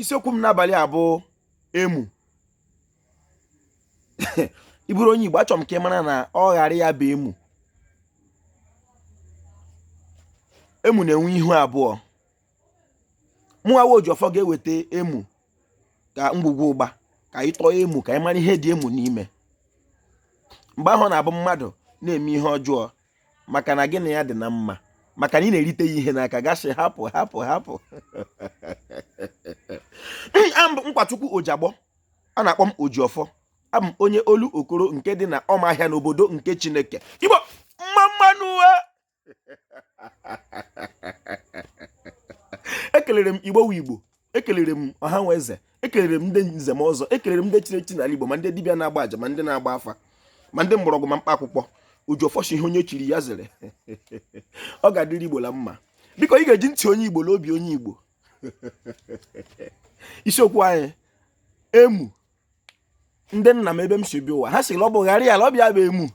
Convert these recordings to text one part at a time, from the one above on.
isiokwu m n'abalị a bụ emu ị bụrụ onye Igbo achọrọ m ka ị mara na ọ ghara ya bụ emu emu na-enwe ihu abụọ mụnwawa ojiọfọ ga-eweta emu ka ngwugwu ụgba ka anyị tọọ emu ka anyị mara ihe dị emu n'ime mgbe ahụ na-abụ mmadụ na-eme ihe ọjọọ maka na gị na ya dị na mma maka na ị na-erite ya ihe n'aka gị asị hapụ hapụ hapụ a m bụ nkwachukwu ojiagbọ a na-akpọ m ojiọfọ abụ m onye olokoro nke dị na ọmahịa n'obodo nke chineke igbo mma mma nụ ekelere m igbo igbo ekelere m ọha nwe eze ekelere m ndị nze na ọzọ ekelere m ndị chiri echi n'ala Igbo ma ndị dibịa na-agba aja ma ndị na-agba afa ma ndị mgbọrọgwụ ma mkpa akwụkwọ ojiọfọ sị ihe onye chiri ya zere ọ ga-adịrị Igbo la mma biko ị ga-eji ntị onye Igbo la obi onye Igbo isiokwu anyị emu ndị nna m ebe m si bịa ụwa ha sị na ọ bụ ghara ya ala ọbịa bụ emu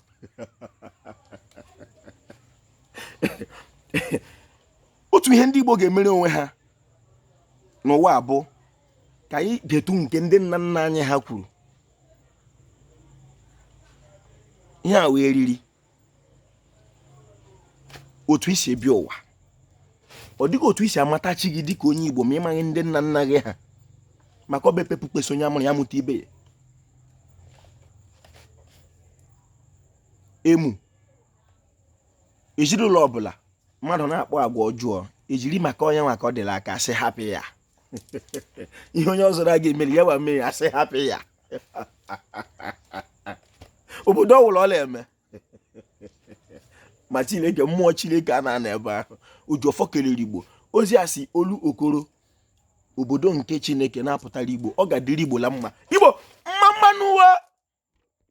otu ihe ndị Igbo ga-emere onwe ha n'ụwa bụ ka anyị detu nke ndị nna nna anyị ha kwuru ihe a wee riri otu i si bịa ụwa ọ dịghị otu i si amata chi gị dịka onye Igbo ma ịmaghị ndị nna nna gị ha maka ọba epepu kpesa onye a mụrụ ya mụta ibe ya emu ezinụlọ ọbụla mmadụ na-akpa agwa ọjọọ e jiri maka onye nwa ka ọ dịla aka sị hapụ ya ihe onye ọzọ na-aga emeri ya wa mmiri a sị hapụ ya obodo ọwụla ọ na-eme ma chineke mmụọ chineke anaghị anọ ebe ahụ ojiọfọ kelere igbo ozi a si olokoro obodo nke chineke na-apụtara igbo ọ ga-adịrị igbo la mma igbo mma mma nụ o